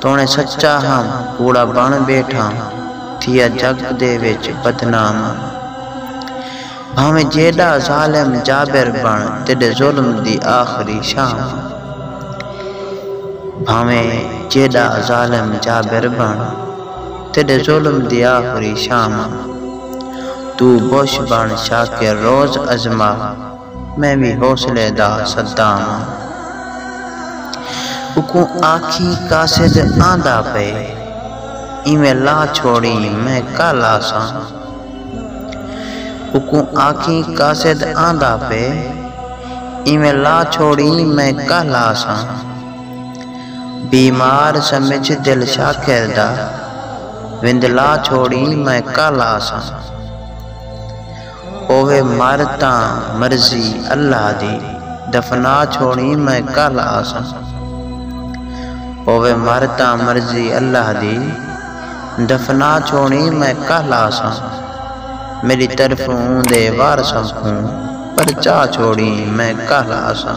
توݨیں سچا ہم کوڑا بݨ ٻیٹھاں تھیا جڳ دے وچ بدنام ہم بھانویں جیݙا ظالم جابر بݨ تیݙے ظلم دی آخری شام ہم بھانویں جیݙا ظالم جابر بݨ تیݙے ظلم دی آخری شام ہم توں بش بݨ شاکر روز ازما۔ میں وی حوصلے دا صدام ہاں۔ اکوں آکھیں قاصد آندا پئے۔ ایویں لا چھوڑیں میں کل آساں۔ اکوں آکھیں قاصد آندا پئے۔ ایویں لا چھوڑیں میں کل آساں۔ بیمار سمجھ دل شاکر دا۔ وندلا چھوڑیں میں کل آساں۔ ہووے مر تاں مرضی اللہ دی دفنا چھوڑیں میں کل آساں ہووے مر تاں مرضی اللہ دی دفنا چھوڑیں میں کل آساں میݙی طرفوں اوندے وارثاں کوں پرچا چھوڑیں میں کل آساں۔